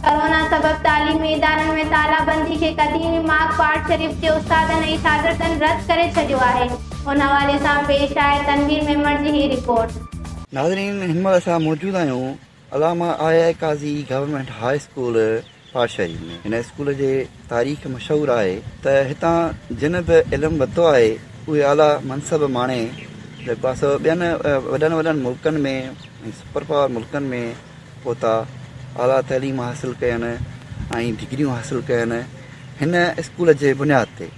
Corona سبب تعليمي ادارن ۾ تالابندي کي قديمي ماڳ پاڙ شريف جي استادن ۽ شاگردن رد ڪري ڇڏيو آهي ان حوالي سان پيش آهي تنوير ميمڻ جي هي رپورٽ. ناظرين هن مهل اسان موجود آهيون علامه I I Qazi government high school Pat Sharif ۾ هن اسڪول جي. تاريخ مشهور آهي ته هتان جن به علم ورتو آهي اهي اعليٰ منصب ماڻي جيڪو آهي سو ٻين وڏن وڏن ملڪن ۾ ۽ سپر پاور ملڪن ۾ پهتا اعليٰ تعليم حاصل ڪين ۽ ڊگريون حاصل ڪين هن اسڪول جي بنياد تي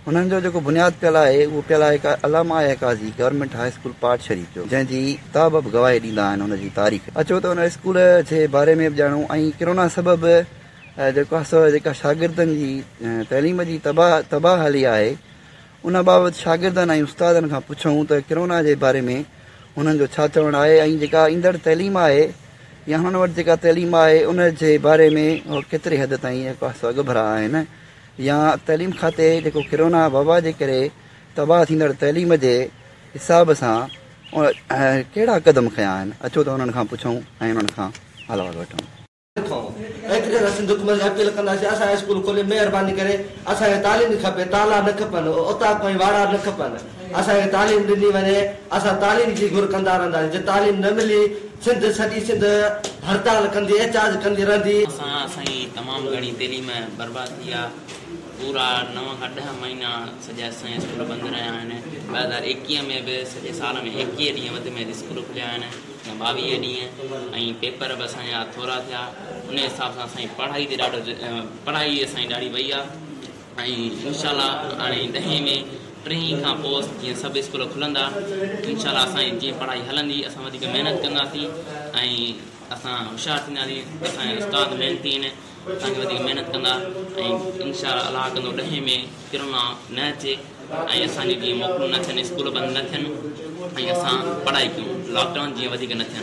انهن جو جيڪو بنياد پيل آهي اهو پيل آهي علامه آيا Qazi government high school Pat Sharif جو جنهن جي ڪتاب به گواهي ڏيندا آهن ان جي تاريخ اچو ته ان اسڪول جي باري ۾ به ڄاڻو ۽ ڪرونا سبب جيڪو آهي سو جيڪا شاگردن جي تعليم جي تباهه حالي آهي ان بابت شاگردن ۽ استادن کان پڇون ته ڪرونا جي باري ۾ هنن جو ڇا چوڻ آهي ۽ جيڪا ايندڙ تعليم آهي يا هنن وٽ جيڪا تعليم آهي ان جي باري ۾ هو ڪيتري حد تائين جيڪو آهي سو اڳڀرا آهن يا تعليم کاتي جيڪو ڪرونا وبا جي ڪري تباهه ٿيندڙ تعليم جي حساب سان ڪهڙا قدم کنيا آهن اچو ته انهن کان پڇون ۽ انهن کان حال احوال وٺون ٿئون ايتري رس دڪمن جي اپيل ڪنداسين اسان جي اسڪول کولي مهرباني ڪري اسان کي تعليم کپي تالا نه کپن اوطاق ۽ واڙا نه کپن اسان کي تعليم ڏني وڃي اسان تعليم جي گهر ڪندا رهنداسين جي تعليم نه ملي سنڌ سڄي سنڌ هڙتال ڪندي احتجاج ڪندي رهندي. اسان سائين تمام گهڻي تعليم برباد ٿي آ پورا نو کان ڏهه مهينا سڄا اسان جا اسڪول بند رهيا آهن ٻه هزار ايڪيهه ۾ به سڄي سال ۾ ايڪيهه ڏينهن وڌ ۾ وڌ اسڪول کليا آهن ٻاويهه ڏينهن ۽ پيپر به اسان جا ٿورا ٿيا ان حساب سان اسان جي پڙهائي تي ڏاڍو پڙهائي اسان جي ڏاڍي وئي آهي ۽ انشاء الله هاڻي ڏهين ۾ ٽئين کان پوء جيئن سڀ اسڪول کلندا انشاء الله اسان جي جيئن پڙهائي هلندي اسان وڌيڪ محنت ڪنداسين ۽ اسان هوشيار ٿينداسين اسان جا استاد محنتي آهن اسان کي وڌيڪ محنت ڪندا ۽ انشاء الله ڪندو ڏهين ۾ ڪرونا نه اچي ۽ اسان جون جيئن موڪلون نه ٿين اسڪول بند نه ٿين ۽ اسان پڙهائي ڪيون لاڪ ڊائون جيئن وڌيڪ نه ٿين.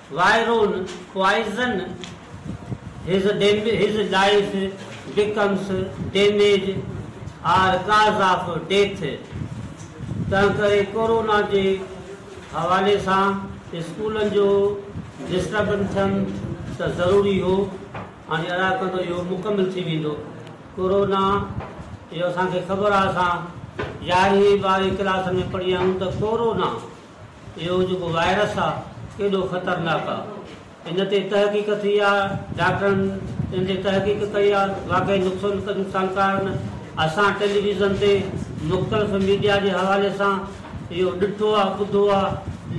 وائرون، Poison، His His life becomes damaged or cause of death تنهنڪري ڪورونا جي حوالي سان اسڪولن جو ڊسٽربن ٿيڻ ته ضروري هو هاڻي ادا ڪندو اهو مڪمل ٿي ويندو ڪورونا جو اسان کي خبر آهي اسان يارهين ٻارهين ڪلاسن ۾ پڙهيا آهيون ته ڪورونا اهو جيڪو وائرس آ ڪيڏو خطرناڪ آ ان تي تحقيق ٿي آ ڊاڪٽرن ان تي تحقيق ڪئي آ واقعي نقصانڪارن اسان ٽيليويزن تي مختلف ميڊيا جي حوالي سان اهو ڏٺو آ ٻڌو آ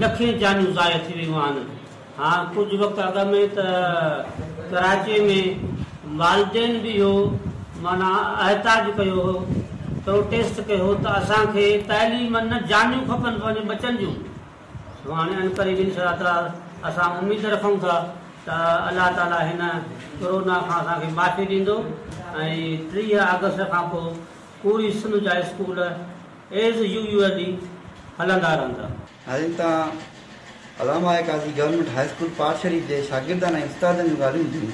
لکين جانيون ضايع ٿي ويون آهن ها ڪجهه وقت اڳ ۾ ته ڪراچي ۾ والدين به اهو معنيٰ احتاج ڪيو هو پروٽيسٽ ڪيو هو ته اسان کي تعليم نه جانيون کپن پنهنجي ٻچن جون سو هاڻي عنقريب ان شاء الله اسان اميد رکون ٿا ته الله تعالي هن ڪورونا کان اسان کي معافي ڏيندو ۽ ٽيهه آگسٽ کان پوء پوري سنڌ جا اسڪول ايز يويوئلي هلندا رهندا. ناظرين تان علامه I Qazi government high school Pat Sharif جي شاگردن ۽ استادن جون ڳالهيون ٻڌيون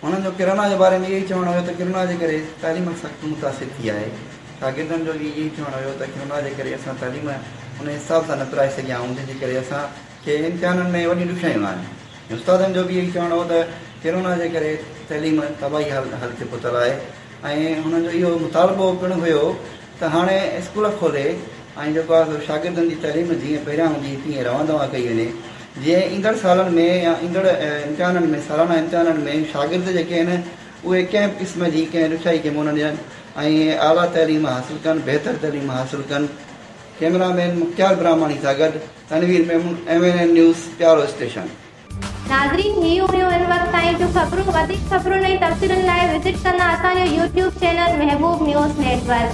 انهن جو ڪرونا جي باري ۾ اهو ئي چوڻ هيو ته ڪرونا جي ڪري تعليم سخت متاثر ٿي آهي شاگردن جو به اهو ئي چوڻ هيو ته ڪرونا جي ڪري اسان تعليم ان حساب سان نه پرائي سگهيا آهيون جنهن جي ڪري اسان کي امتحانن ۾ وڏيون ڏکيائيون آهن ۽ استادن جو به اهو ئي چوڻ هو ته ڪرونا جي ڪري تعليم تباهي حالت تي پهتل آهي ۽ انهن جو اهو مطالبو پڻ هيو ته هاڻي اسڪول کولي ۽ جيڪو آهي سو شاگردن جي تعليم جيئن پهريان هوندي هئي تيئن رواں دواں ڪئي وڃي جيئن ايندڙ سالن ۾ يا ايندڙ امتحانن ۾ سالانه امتحانن ۾ شاگرد جيڪي آهن اهي ڪنهن به قسم جي ڪنهن ڏکيائي کي منهن نه ڏين ۽ اعليٰ تعليم حاصل ڪن بهتر تعليم حاصل ڪن ڪيمرا مين مختيار براهماڻي سان گڏ Tanveer Memon M N N news پيارو اسٽيشن. ناظرين هي هيون هن وقت تائين جون خبرون وڌيڪ خبرن ۽ تفصيلن لاء وزٽ ڪندا اسان جو YouTube channel Mehboob news net work.